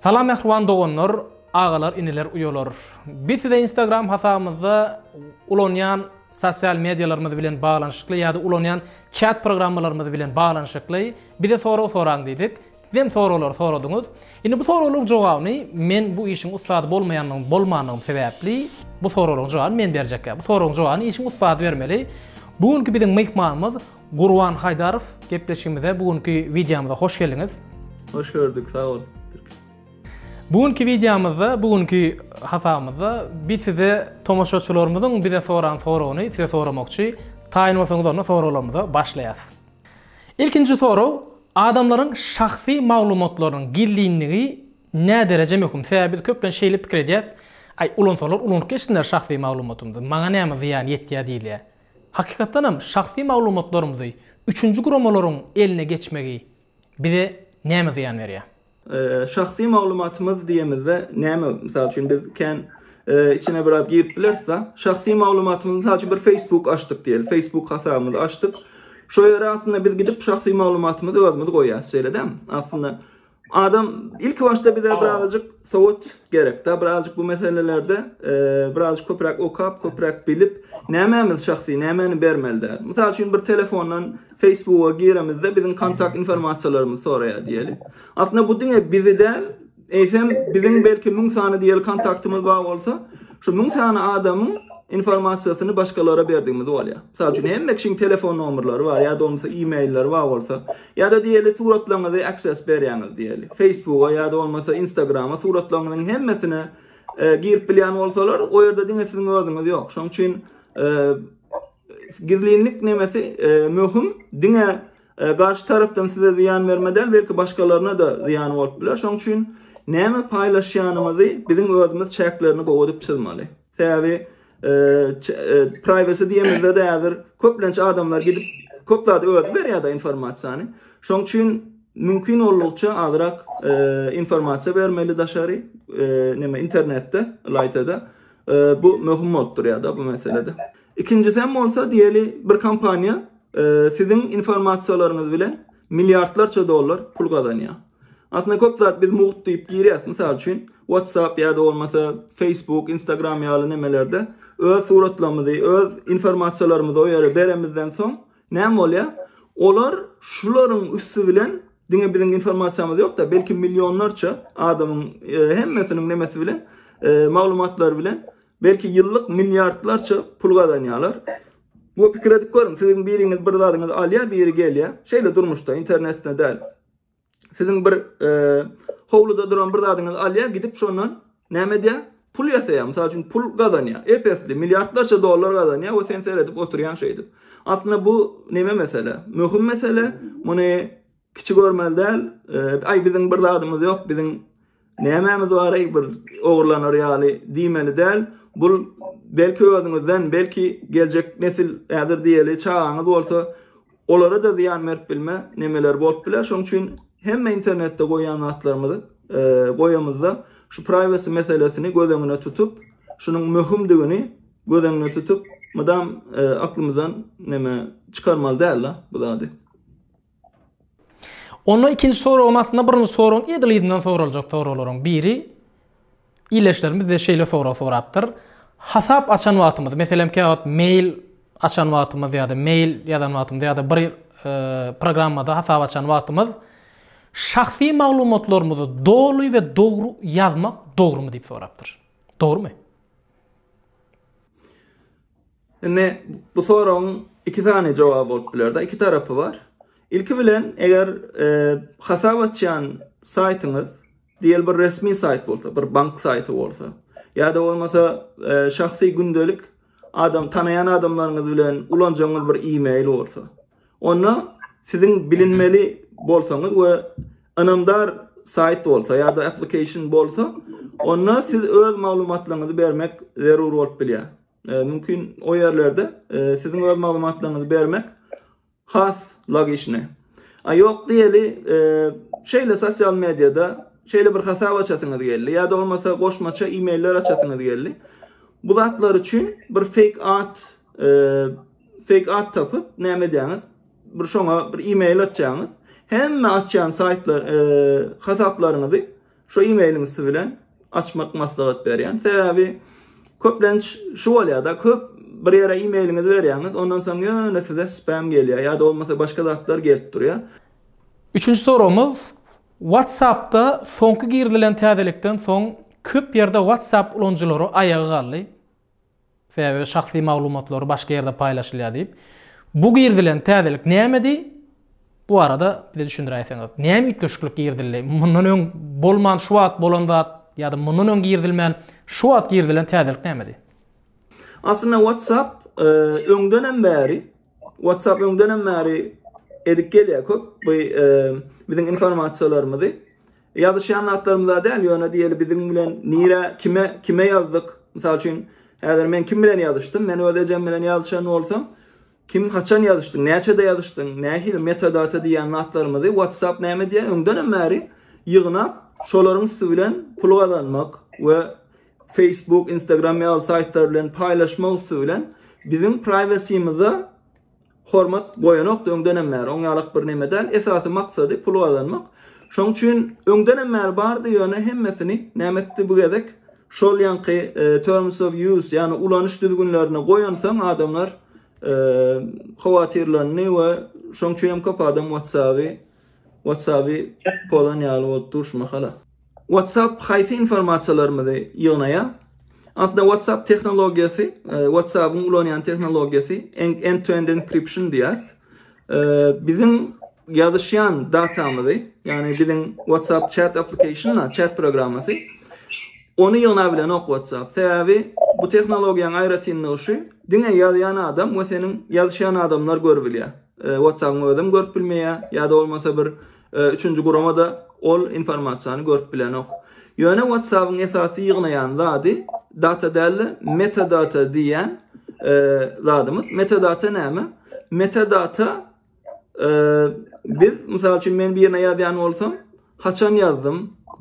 Salam mähriban doganlar, agalar, iniler, uýalar. Biz size Instagram hasabymyzda ulanýan sosial medialarymyz bilen baglanyşykly ýa-da ulanýan çat programmalarymyz bilen baglanyşykly bize sorag soraň diýdik. Siz hem soraglary soradyňyz. Indi bu soraglaryň jogabyny men bu işiň ussady bolmaýanlygym, bolmanlygym sebäpli bu soraglaryň jogabyny men berjek. Bu soraglaryň jogabyny işiň ussady bermeli. Bu günki biziň myhmanymyz Gurban Haýdarow gepleşigimize bu günki wideomyza hoş geldiňiz. Hoş gördük sag bol. Bu günki wideomyzda bu günki hasabymyzda biz size tomaşaçylarymyzyň bize soran soragyny size soramakçy. Taýyn bolsaňyz onda soraglarymyza başlaýas. Ilkinji sorag adamlaryň şahsy maglumatlarynyň gizlinligi nädereje möhüm? Sebäbi biz köplenç şeýle pikir edýäs, aý ulansalar ulanyp geçsinler şahsy maglumatymyzy, maňa näme zyýan ýetýä diýilýä. Hakykatdan hem şahsy maglumatlarymyzy üçünji guramalaryň eline geçmegi bize näme zyýan berýär? Şahsy maglumatymyz diýemizde näme? Mysal üçin biz kän içine biraz girip bileris-de. Şahsy maglumatymyzy mysal üçin bir Facebook açdyk diýeli. Facebook hasabymyzy açdyk. Şo ýere aslynda biz gidip şahsy maglumatymyzy özümiz goýýarys, şeýle dämi? Aslynda Adam ilk başda bize birazcık sowat gerek. Da birazcık bu meselelerde e, birazcık köprak okap, köprak bilip, nämemiz şahsy, nämeni bermeli der. Misal üçin bir telefondan Facebook'a giremizde bizim kontakt informasiyalarımız soraya diyelim. Aslında bu dine bizi de eysem bizim belki mün sani diyelim kontaktımız var olsa, şu mün sani adamın informasyýasyny başgalara berdigimiz bolýar. Mysal üçin hemme kişiň telefon nomerleri bar, ýa-da bolmasa e-mailleri bar bolsa, Ýa-da diýeli suratlaryňyzy access berýäňiz diýeli. Facebooka ýa-da bolmasa Instagrama suratlaryňyzyň hemmesine girip bilýän bolsalar, o ýerde diňe siziň özüňiz ýok. Şonuň üçin gizlinlik nemesi möhüm. Diňe garşy tarapdan size zyýan bermeden, belki başgalaryna-da zyýany bolup biler. Şonuň üçin näme paýlaşýanymyzy biziň özümiz çäklerini gowy edip çyzmaly. Sebäbi privacy diýemizde de häzir köplenç adamlar gidip köp zat özi berýär-de informasiýany. Şoň üçin mümkin boldugyça azrak informasiýa bermeli daşary näme internetde, laýtada. Bu möhüm bolup durýar-da bu meselede. Ikinjisi hem bolsa diýeli bir kompaniýa siziň informasiýalaryňyz bilen milliardlarça dollar pul gazanýar. Aslynda köp zat biz mugt diýip girýäs. Mysal üçin, WhatsApp ýa-da bolmasa Facebook, Instagram ýaly nemelerde öz suratlarymyzy, öz informasiýalarymyzy o ýere beremizden soň näme bolýar? Olar şularyň üsti bilen diňe biziň informasiýamyz ýok-da, belki millionlarça adamyň e, hemmesiniň nemesi bilen, e, maglumatlary bilen belki ýyllyk milliardlarça pul gazanýarlar. Bu pikir edip görüň, siziň biriňiz bir zadyňyzy alýar, biri gelýär. Şeýle durmuşda, internetde däl. Siziň bir howluda duran bir zadyňyzy alýar, gidip şondan näme edýär? Pul ýasaýar. Mysal üçin pul gazanýar. Epesli, milliardlarça dollar gazanýar we sen seredip oturýan şeýdip. Aslynda bu näme mesele? Möhüm mesele. Muny kiçi görmeli däl. Aý biziň bir zadymyz ýok, biziň Nämemiz bar-eý bir ogurlanar ýaly diýmeli däl. Bul belki özüňizden, belki geljek nesil häzir diýeli çagaňyz bolsa, olara-da zyýan berip bilme nemeler bolup biler. Şoň üçin hemme internetde goýýan zatlarymyzy e, goýamyzda şu privacy meselesini göz öňüne tutup, şunuň möhümdigini göz öňüne tutup, mydam e, aklymyzdan neme çykarmaly däl bu zady. Onda ikinji soragyň aslynda birinji soragyň edil yzyndan soraljak soraglaryň biri ildeşlerimiz bize şeýle sorag sorapdyr. Hasap açan wagtymyz, meselem kä wagt mail açan wagtymyz ýa-da mail ýazan wagtymyz ýa-da bir e, programmada hasap açan wagtymyz şahsy maglumatlarymyzy doly we dogry ýazmak dogrumy diýip sorapdyr. Dogrumy? Indi bu soragyň iki sany jogaby bolup biler-de, iki tarapy bar. Ilki bilen, eger e, hasap açýan saýtyňyz diýel bir resmi saýt bolsa, bir bank saýty bolsa, ýa-da bolmasa e, şahsy gündelik adam tanaýan adamlaryňyz bilen ulanjaňyz bir e-mail bolsa. Onda siziň bilinmeli bolsaňyz we ynamdar saýt bolsa ýa-da application bolsa, onda siz öz maglumatlaryňyzy bermek zerur bolup bilýär. E, mümkin o ýerlerde e, siziň öz maglumatlaryňyzy bermek has logiçni. A ýok diýeli, e, şeýle sosial mediada şeýle bir hasap açasyňyz geldi ýa-da bolmasa goşmaça e-mailler açasyňyz geldi. Bu zatlar üçin bir fake ad, e, fake ad tapyp näme edýäňiz? Bir şoňa bir e-mail atýaňyz. Hemme açýan saýtlar, e, hasaplaryňyzy Şu e-mailiň üsti bilen açmak maslahat berýän. Sebäbi köplenç şu bolýar-da, köp bir ýere e-mailiňizi berýäňiz, ondan soň ýöne size spam gelýär ýa-da bolmasa başga zatlar gelip durýar. Üçünji soragymyz, WhatsApp-da soňky girizilen täzelikden soň köp ýerde WhatsApp ulanyjylary aýaga galdy. Sebäbi şahsy maglumatlary başga ýerde paýlaşylýar diýip. Bu girizilen täzelik nämedi? Bu barada bize düşündiräýseňiz. Näme üýtgeşiklik girizildi? Mundan öň bolman şu wagt bolan zat ýa-da mundan öň girizilmän şu wagt girizilen täzelik nämedi? Aslynda WhatsApp öňdenem bäri WhatsApp öňdenem bäri edip gelýär köp bu biziň informasiýalarymyzy Ýazyşýan zatlarymyza däl, ýöne diýeli biziň bilen nirä, kime, kime ýazdyk? Mysal üçin, häzir men kim bilen ýazyşdym? Men öz ejem bilen ýazyşan bolsam, kim, haçan ýazyşdyň, näçede ýazyşdyň, nähili metadata diýýän zatlarymyzy WhatsApp näme edýär? Öňdenem bäri ýygnap, şolaryň üsti bilen pul gazanmak we Facebook, Instagram ýaly saýtlar bilen paýlaşmak üsti bilen biziň privacy-myza Hormat goýanokdy öňdenem bäri oň ýalak bir neme däl esasy maksady pul gazanmak şoň üçin öňdenem bäri bardy ýöne hemmesini näme etdi bu gezek şol ýaňky terms of use ýagny ulanyş düzgünlerine goýansoň adamlar howatyrlandy we şoň üçin hem köp adam whatsaby whatsaby pozan ýaly bolup dur şu mahala. WhatsApp haýsy informasiýalarymyzy ýygnaýar? Aslynda WhatsApp tehnologiýasy, e, WhatsApp-yň ulanýan tehnologiýasy end-to-end encryption diýýäs. E, biziň ýazyşýan datamyzy, ýagny biziň WhatsApp chat application-na, chat programmasy ony ýygna bilen ok WhatsApp. Sebäbi bu tehnologiýanyň aýratynlygy şu, diňe ýazýan adam we seniň ýazyşýan adamlar görüp bilýär. E, WhatsApp-yň özem görüp bilmeýär ýa-da bolmasa bir Üçünji gurama-da ol informasiýany görüp bilenok. Ýöne WhatsApp-yň esasy ýygnaýan zady data däl-de, metadata diýýän zadymyz. Metadata näme? Metadata biz mysal üçin men birine ýazýan bolsam, haçan ýazdym,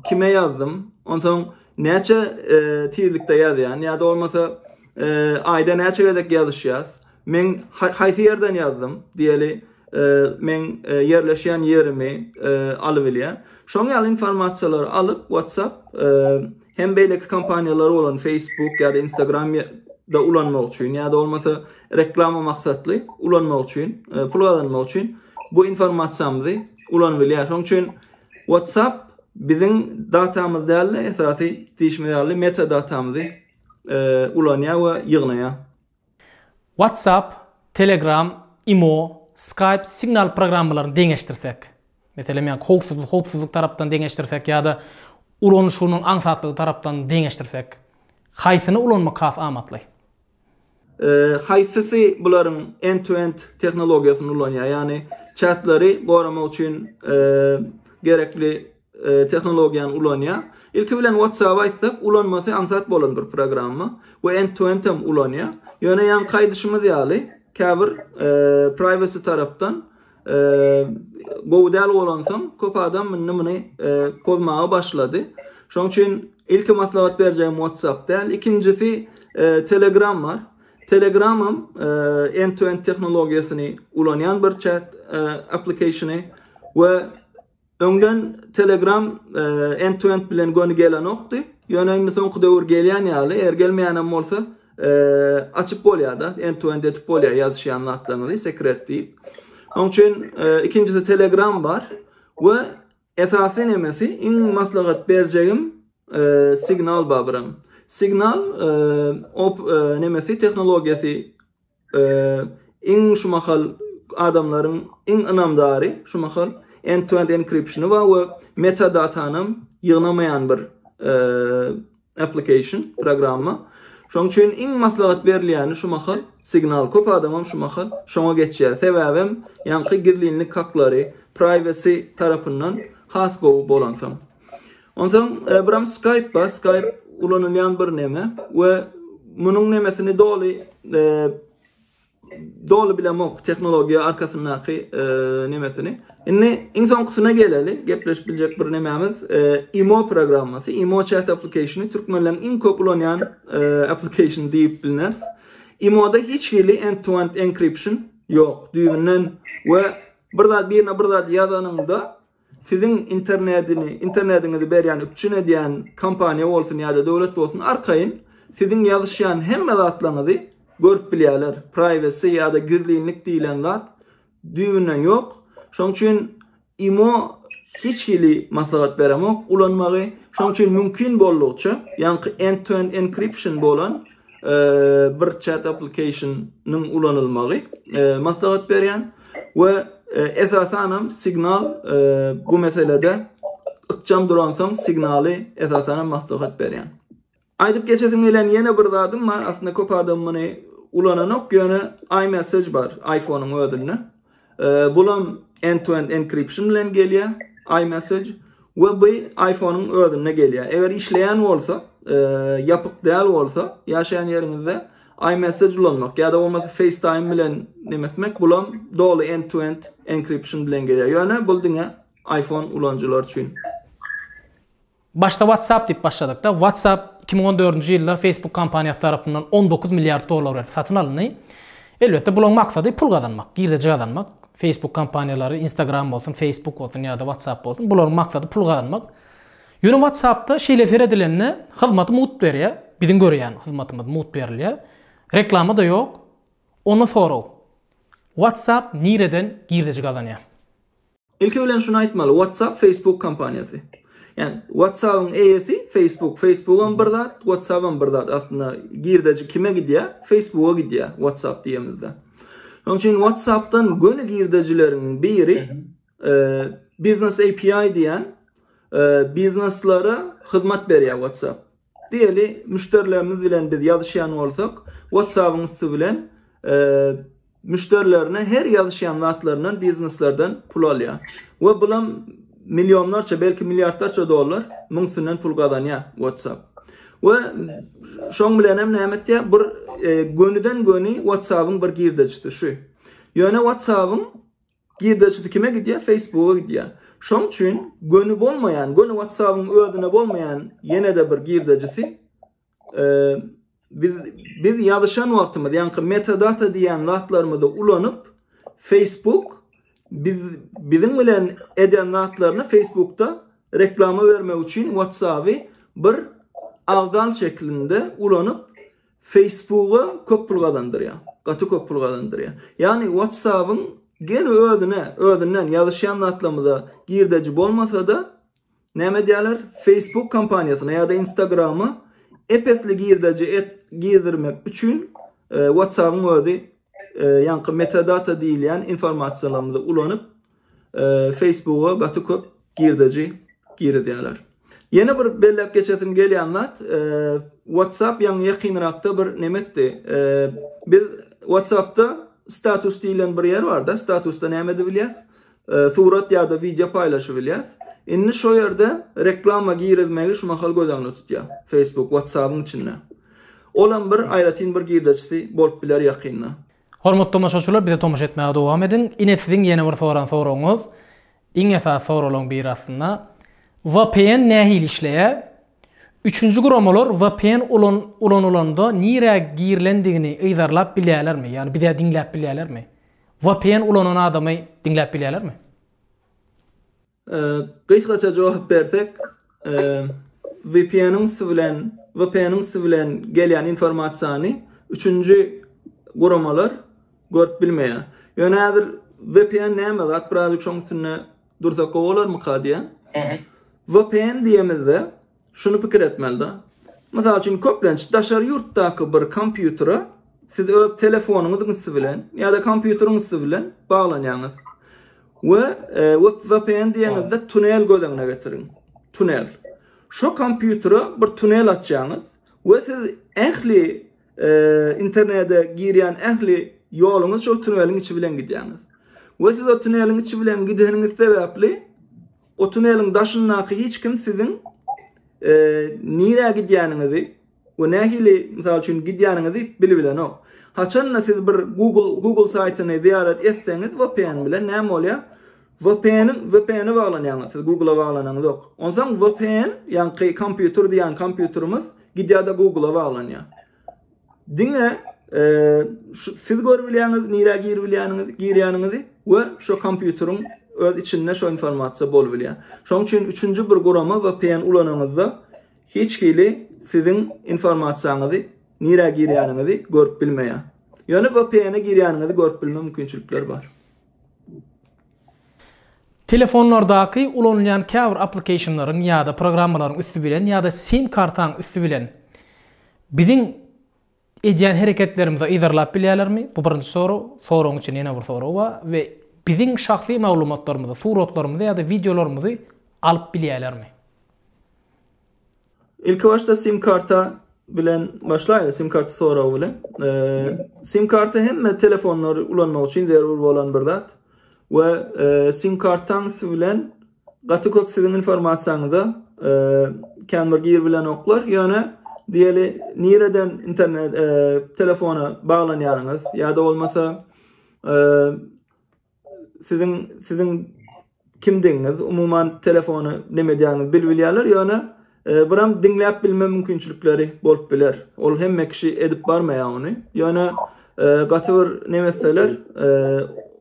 kime ýazdym, onsoň näçe tizlikde ýazýan ýa-da bolmasa aýda näçe gezek ýazyşýas, Men haýsy ýerden ýazdym? Diýeli, e, men e, ýerleşýän ýerimi e, alyp bilýär. Şoň ýaly informasiýalary alyp WhatsApp hem beýleki kompaniýalar bolan Facebook ýa-da Instagram da ulanmak üçin ýa-da bolmasa reklama maksatly ulanmak üçin, e, pul gazanmak üçin bu informasiýamyzy ulanyp bilýär. Şoň üçin WhatsApp biziň datamyz däl-de esasy diýişme ýaly metadatamyzy e, ulanýar we ýygnaýar. WhatsApp, Telegram, Imo, Skype, Signal programmalaryny deňeşdirsek, meselem, ýa howpsuzlyk howpsuzlyk tarapdan deňeşdirsek ýa-da ulanyşynyň aňsatlygy tarapdan deňeşdirsek, haýsyny ulanmak has amatly? Haýsysy bularyň end-to-end tehnologiýasyny ulanýar, ýagny çatlary goramak üçin gerekli tehnologiýany ulanýar. Ilki bilen WhatsApp aýtsak, ulanmasy aňsat bolan bir programma we end-to-end hem ulanýar. Ýöne ýaňky aýdyşymyz ýaly, käbir privacy tarapdan gowy däl bolansoň, köp adam indi muny pozmaga başlady. Şonuň üçin ilki maslahat berjegim WhatsApp däl. Ikinjisi Telegram bar. Telegram hem end-to-end tehnologiýasyny ulanýan bir chat applikasiýony we Öňden Telegram end-to-end bilen göni gelenokdy. Ýöne indi soňky döwür gelýän ýaly, eger gelmeýänem bolsa, açyp bolýar-da, end-to-end edip bolýar ýazyşýan zatlaryňyzy, sekret diýip. Oň üçin ikinjisi Telegram bar we esasy nemesi iň maslahat berjegim Signal bar biram. Signal op nemesi tehnologiýasy Iň şu mahal adamlaryň iň ynamdary şu mahal end-to-end encryptiony bar we metadatanam ýygnamaýan bir application, programma. Şonuň üçin iň maslahat berilýäni şu mahal signal. Köp adamam şu mahal şoňa geçýär. Sebäbem ýaňky gizlinlik haklary, privacy tarapyndan has gowy bolansoň. Onsoň e, buram Skype bar, Skype ulanylýan bir neme we munuň nemesini doly e, doly bilemok tehnologiýa arkasyndaky e, nemesini. Indi iň soňkusyna geleli, gepleşip biljek bir nemämiz e, IMO programmasy, IMO chat applicationy türkmenleriň iň köp ulanýan e, application diýip bilneris. IMO-da hiç hili end-to-end encryption ýok düýbünden we bir zat birine bir zat ýazanyňda Siziň internedini, internediňizi berýän, üpjün edýän kompaniýa bolsun ýa-da döwlet bolsun arkaýyn siziň ýazyşýan hemme zatlaňyzy görüp bilýärler. Privacy ýa-da gizlinlik diýlen zat düýbünden ýok. Şonuň üçin imo hiç hili maslahat beremok ulanmagy. Şonuň üçin mümkin boldugyça, ýaňky end-to-end encryption bolan bir chat application-nyň ulanylmagy maslahat berýän we esasan hem signal bu meselede ykjam duransoň signaly esasan hem maslahat berýän. Aýdyp geçesim gelen ýene bir zadym bar, aslynda köp adam muny ulananok, ýöne iMessage bar iPhone-yň özünde. Bulam end-to-end encryption bilen gelýär iMessage we bu iPhone-yň özünde gelýär. Eger işleýän bolsa, ýapyk däl bolsa, ýaşaýan ýeriňizde iMessage ulanmak ýa-da bolmasa FaceTime bilen näme etmek, bulam doly end-to-end encryption bilen gelýär. Ýöne bu diňe iPhone ulanyjylar üçin. Başda WhatsApp diýip başladykda, WhatsApp iki müň on dördünji ýylda Facebook kompaniýasy tarapyndan on dokuz milliard dollar berip satyn alyndy. Elbetde bulaň maksady pul gazanmak, girdeji gazanmak. Facebook kompaniýalary, Instagram bolsun, Facebook bolsun ýa-da WhatsApp bolsun, bularyň maksady pul gazanmak. Ýöne WhatsApp-da şeýle seredilende hyzmaty mugt berýär, biziň görýän hyzmatymyz mugt berilýär. Reklama-da ýok. Onda sorag, WhatsApp nireden girdeji gazanýar? Ilki bilen şuny aýtmaly, WhatsApp Facebook kompaniýasy. Ýani WhatsApp-yň eýesi Facebook, Facebook-am bir zat, WhatsApp-am bir zat. Aslynda girdeji kime gidýär? Facebook-a gidýär WhatsApp diýemizde. Şonuň üçin WhatsApp-dan göni girdejileriň biri e, Business API diýen e, bizneslere hyzmat berýär WhatsApp. Diýeli, müşderilerimiz bilen biz ýazyşýan bolsak, WhatsApp-yň üsti bilen müşderilerine her ýazyşýan zatlaryndan bizneslerden pul alýar. We bulam millionlarça, belki milliardlarça dollar muň üstünden pul gazanýar WhatsApp. We şoň bilen hem näme etýär? Bir e, gönüden göni WhatsApp-yň bir girdejisi şu. Ýöne WhatsApp-yň Girdeçisi kime gidýär? Facebooka gidýär. Şoň üçin göni bolmaýan, göni WhatsApp-yň özüne bolmaýan ýene-de bir girdejisi biz biz ýazyşan wagtymyz, ýaňky metadata diýen zatlarymyzy ulanyp Facebook biz biziň bilen eden zatlaryny Facebookda reklama bermek üçin WhatsApp-y bir agdal şeklinde ulanyp Facebooka köp pul gazandyrýar. Gaty köp pul gazandyrýar. Ýagny WhatsApp-yň gen özüne, özünden ýazyşýan zatlarymyza girdeji bolmasa-da, näme edýärler? Facebook kompaniýasyna ýa-da Instagram-a ep-esli girdeji et, girdirmek üçin e, WhatsApp-yň özi e, ýaňky metadata diýilýän informasiýalarymyzy ulanyp, Facebooka gaty köp girdeji girizýärler. Ýene bir belläp geçesim gelýän zat, WhatsApp ýaňy ýakynrakda bir neme etdi. Biz WhatsAppda status diýlen bir ýer barda, statusda näme edip bilýäs? Surat ýa-da wideo paýlaşyp bilýäs. Indi şo ýerde reklama girizmegi şu mahal göz öňünde tutýar. Facebook WhatsApp-yň içinde. Olam bir aýratyn bir girdejisi bolup biler ýakynda. Hormatly tomaşaçylar bize tomaşa etmäge dowam ediň. Ine siziň ýene bir soran soragyňyz. Iň esasy soralaň biri aslynda. Vpn nähili işleýär? Üçünji guramalar vpn ulan ulanylanda nirä girilendigini yzarlap bilýälermi? Ýagny bizä diňläp bilýälermi? Vpn ulanan adamy diňläp bilýälermi? Gysgaça jogap bersek, VPN-iň üsti bilen, VPN-iň üsti bilen gelýän informasiýany üçünji guramalar görüp bilmeýär. Ýöne häzir VPN näme zat, birazjyk şoň üstünde dursak gowy bolarmyka diýýän. VPN diýemizde, Şuny pikir etmeli-de. Mysal üçin, köplenç daşary ýurtdaky bir kompýutere siz öz telefonyňyzyň üsti bilen ýa-da kompýuteriň üsti bilen baglanýaňyz. We VPN diýeniňizde tunel göz öňüne getiriň. Tunel. Şo kompýutere bir tunel açýaňyz we siz ähli internete girýän ähli ýoluňyz şo tuneliň içi bilen gidýäňiz. We siz o tuneliň içi bilen gideniňiz sebäpli O tuneliň daşyndaky hiç kim siziň nirä gidýäniňizi we nähili, mysal üçin, gidýäniňizi bilip bilenok. Haçan-da siz bir Google Google saýtyny zyýarat etseňiz VPN bilen näme bolýar? VPN-iň VPN-e baglanýaňyz, siz Google-a baglanaňyzok. Onsoň VPN, ýaňky kompýuter diýýän kompýuterimiz gidýär-de Google-a baglanýar. Diňe e, siz görüp bilýäňiz, nirä girip bilýäniňizi, girýäniňizi we şu kompýuteriň öz içinde şu informasiýa bolup bilýär. Şonuň üçin üçünji bir gurama VPN ulanyňyzda hiç hili siziň informasiýaňyzy, nirä girýäniňizi görüp bilmeýär. Ýöne VPN-e girýäniňizi görüp bilme mümkinçilikleri bar. Telefonlardaky ulanylýan käbir applikationlaryň ýa-da programmalaryň üsti bilen ýa-da sim kartaň üsti bilen biziň edýän hereketlerimizi yzarlap bilýärlermi? Bu birinji sorag. Soragyň içinde ýene bir sorag bar we biziň şahsy maglumatlarymyzy, suratlarymyzy ýa-da wideolarymyzy alyp bilýärlermi? Ilki başda sim karta bilen başlaýar. Sim karty soragy bilen. Sim karty hemme telefonlary ulanmak üçin zerur bolan bir zat. We sim kartaň üsti bilen gaty köp siziň informasiýaňyza kän bir gir bilen oklar. Ýöne diýeli nireden internet telefona baglanýaryňyz ýa-da bolmasa Siziň siziň kimdigiňiz, umuman telefony neme edýäňizi bil bilýärler, ýöne e, biram diňläp bilme mümkinçilikleri bolup biler. Ol hemme kişi edip barmaýar ony. Ýöne e, gaty bir neme etseler, e,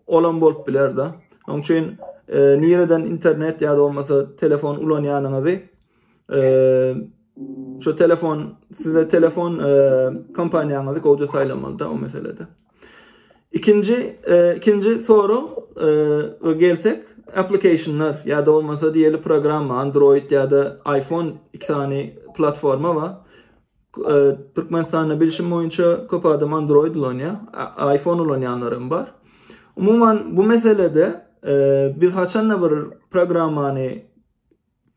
olam bolup biler-de. Onuň üçin e, nireden internet ýa-da bolmasa telefon ulanýanyňyzy e, şu telefon size telefon e, kompaniýaňyzy gowja saýlamalyda o meselede. Ikinji, e, ikinji sorag e, gelsek, applikasyonlar ýa-da bolmasa diýeli programma, Android ýa-da iPhone iki sany platforma bar. E, Türkmenistanda bilşim boýunça köp adam Android ulanýar, iPhone ulanýanlar hem bar. Umuman bu meselede e, biz haçanda bir programmany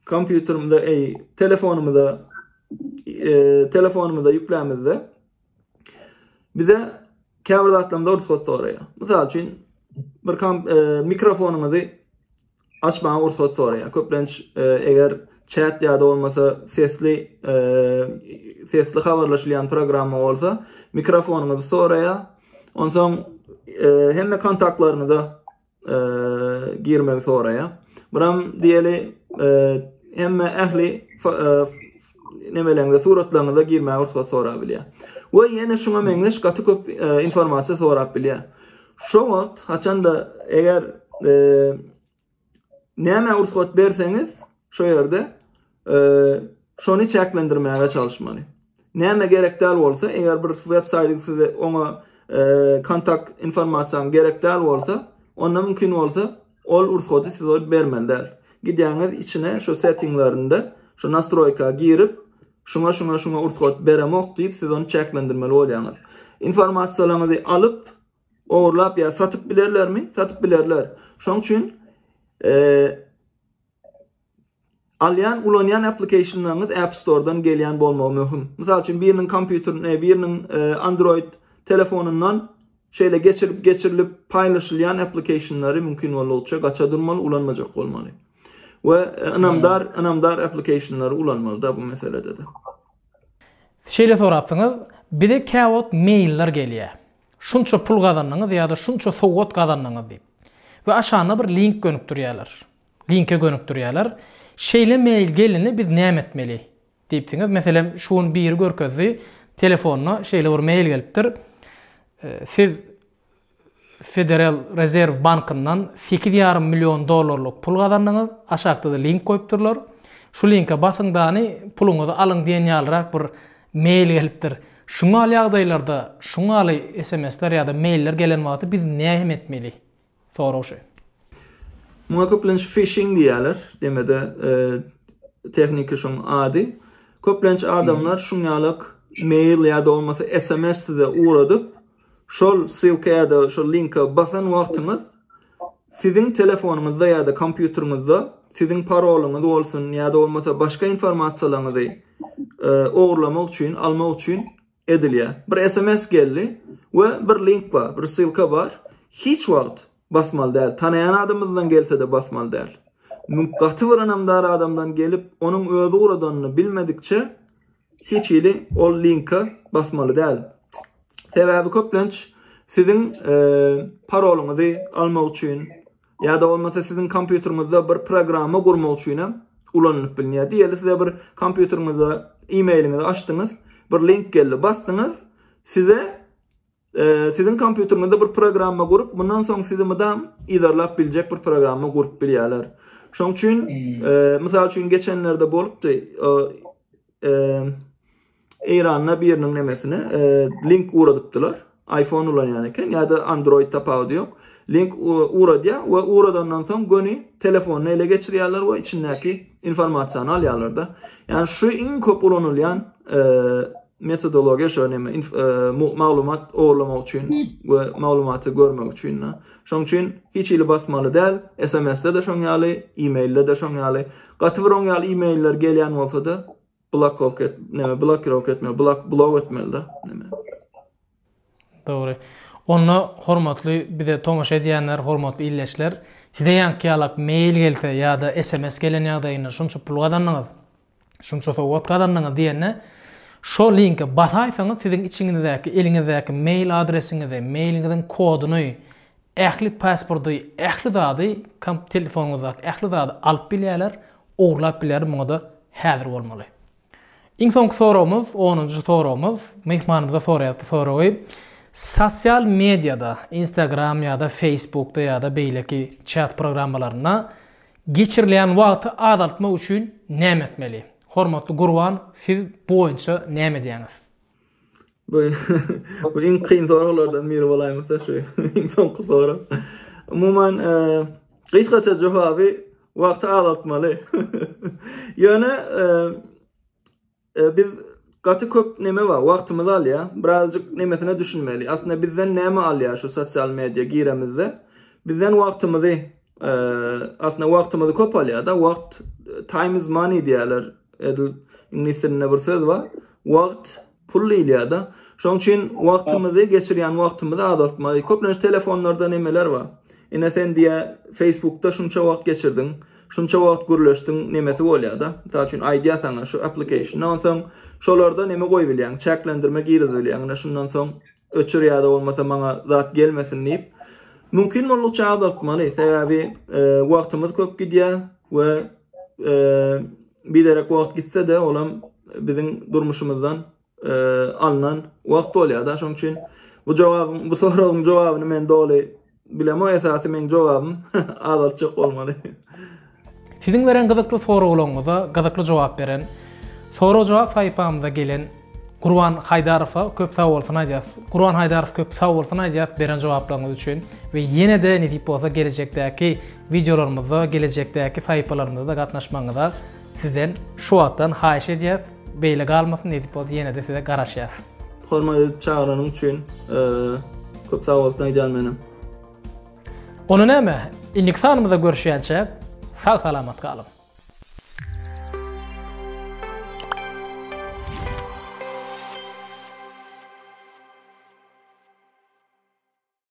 kompýuterimize, eý, telefonymyza, eee, telefonymyza ýüklämizde bize käbir zatlarymyza rugsat soraýar. Mysal üçin, bir kom, eee, mikrofonyňyzy açmaga rugsat soraýar. Köplenç, eee, eger chat ýa-da bolmasa sesli, eee, sesli habarlaşylýan programma bolsa, mikrofonyňyzy soraýar. Onsoň, eee, hemme kontaktlaryňyza girmegi soraýa. Buram diýeli hemme ähli nemeleňde suratlaryňyza girmäge rugsat sorap bilýär. We ýene şuňa meňzeş gaty köp informasiýa sorap bilýär. Şo wagt haçanda eger näme rugsat berseňiz şo ýerde şony çäklendirmäge çalyşmaly. Näme gerek däl bolsa, eger bir web saýty size oňa kontakt informasiýaňyz gerek däl bolsa, onda mümkin bolsa ol ursady size bermeli däl. Gidýäňiz içine şu settinglerinde, şu nastroýka girip, şuňa şuňa şuňa ursat beremok diýip siz ony çäklendirmeli bolýaňyz. Informasiýalaryňyzy alyp, ogurlap ýa satyp bilerlermi? Satyp bilerler. Şoň üçin e, Alýan, ulanýan applikationlaryňyz App Store-dan gelýän bolmagy möhüm. Mysal üçin, biriniň kompýuterine, biriniň Android telefonyndan şeýle geçirip, geçirilip paýlaşylýan applikationlary mümkin boldugyça gaça durmaly, ulanmajak bolmaly. We ynamdar, ynamdar applikationlary ulanmaly-da bu meselede-de. Şeýle sorapdyňyz, bize käwagt mailler gelýär. Şunça pul gazandyňyz ýa-da şunça sowgat gazandyňyz diýip. We aşagynda bir link gönükdirýärler. Linke gönükdirýärler. Şeýle mail gelende biz näme etmeli? diýipsiňiz. Meselem, şu gün biri görkezdi, telefonyna şeýle bir mail gelipdir, Siz Federal Rezerw bankyndan sekiz ýarym million dollarlyk pul gazandyňyz, aşakda-da link goýupdyrlar. Şu linke basyň dany, puluňyzy alyň diýen ýalyrak bir mail gelipdir. Şuňaly ýagdaýlarda, şuňaly SMS-ler ýa-da mailler gelen wagty biz näme etmeli? Sorag şu. Muňa köplenç fişing diýýärler. Deme-de tehniki şoň ady. Köplenç adamlar şuň ýalak mail ýa-da bolmasa sms size ugradyp, şol ssylka ýa-da şol linke basan wagtyňyz siziň telefonyňyzda ýa-da kompýuteriňizde siziň parolyňyz bolsun ýa-da bolmasa başga informasiýalaryňyzy ogurlamak üçin, almak üçin edilýär. Bir sms geldi we bir link bar, bir ssylka bar. Hiç wagt basmaly däl. Tanaýan adamyňyzdan gelse-de basmaly däl. Mümk gaty bir ynamdar adamdan gelip, onuň özi guradanyny bilmedikçe hiç hili ol linka basmaly däl. Sebäbi köplenç siziň e, parolyňyzy almak üçin Ýa-da bolmasa siziň kompýuteriňizde bir programma gurmak üçinem ulanylyp bilinýär. Diýeli size bir kompýuteriňizde e-mailiňizi açdyňyz, bir link geldi, basdyňyz, size e, siziň kompýuteriňizde bir programma gurup, mundan soň sizi mydam idarlap biljek bir programma gurup bilýärler. Şoň üçin, hmm. e, mysal üçin geçenlerde bolupdy, e, e, Eýranda biriniň nemesine e, link ugradypdylar. iPhone ulanýan eken ýa-da Android tapawudy ýok. Link ugradýar we ugradandan soň göni telefonyny ele geçirýärler we içindäki informasiýany alýarlar-da. Ýani şu iň köp ulanylýan e, metodologiýa şu neme e, maglumat ogurlamak üçin we maglumaty görmek üçin. Şoň üçin hiç hili basmaly däl. SMS-de de şoň ýaly, e-mailde de şoň ýaly. Gaty bir oň ýaly e-mailler gelýän bolsa-da, Blokok et, näme blokirowka etmeli, blok blok etmeli-de, näme. Dogry. Onda hormatly bize tomaşa edýänler, hormatly ildeşler, size ýaňky ýalak mail gelse ýa-da sms gelen ýagdaýynda şunça pul gazandyňyz, şunça sowgat gazandyňyz diýende, şo linke basaýsaňyz siziň içiňizdäki, eliňizdäki mail adresiňizi, mailiňiziň koduny, Ähli pasporty, ähli zady, komp telefonyňyzdaky ähli zady alyp bilýärler, ogurlap bilýärler, muňada häzir bolmaly. Iň soňky soragymyz, onunjy soragymyz, myhmanymyza soraýarys bu soragy. Sosial mediýada, Instagram ýa-da Facebookda ýa-da beýleki çat programmalarynda geçirilýän wagty azaltmak üçin näme etmeli? Hormatly Gurban, siz bu boýunça näme edýäňiz? Bu bu iň kyn soraglardan biri bolaýmasa şu iň soňky sorag. Umuman e, gysgaça jogaby wagty azaltmaly. Ýöne e, e, biz gaty köp neme bar, wagtymyz alýar. Birazjyk nemesine düşünmeli. Aslynda bizden näme alýar şu sosial media giremizde? Bizden wagtymyzy e, aslında wagtymyz köp alýar da wagt time is money diýerler. Edil iňlis dilinde bir söz bar. Wagt pul diýilýär da. Şonuň üçin wagtymyzy geçirýän wagtymyzy azaltmaly. Köplenç telefonlarda nemeler bar. Ine sen diýä Facebookda şunça wagt geçirdiň, şunça wagt gürleşdiň nemesi bolýar da. Mysal üçin aýdýar sana şu application. Onsoň şolarda neme goýup bilýäň, çäklendirme girizip bilýäň. Ine şundan soň Öçür ýa-da bolmasa maňa zat gelmesin diýip, mümkin boldukça azaltmaly. Sebäbi wagtymyz köp gidýär we biderek wagt gitse-de olam biziň durmuşymyzdan alnan wagt bolýar-da. Şonuň üçin bu jogabyň, bu soragyň jogabyny men doly Bilemo esasy meň jogabym azaltjak bolmaly. Siziň beren gyzykly soraglaryňyza gyzykly jogap beren Sorag jogap sahypamyza gelen Gurban Haydarowa köp sag bolsun aýdýas. Gurban Haydarow köp sag bolsun aýdýas beren jogaplaryňyz üçin we ýene-de nesip bolsa gelejekdäki wideolarymyzda, gelejekdäki sahypalarymyzda gatnaşmagyňyza Sizden şu wagtdan haýyş edýäs, beýle galmasyn nesip bolsa ýenede size garaşýas. Hormat edip çagyranyň üçin köp sag bolsun aýdýan menem. Onda näme, indiki sanymyzda görüşýänçäk, sag salamat galyň.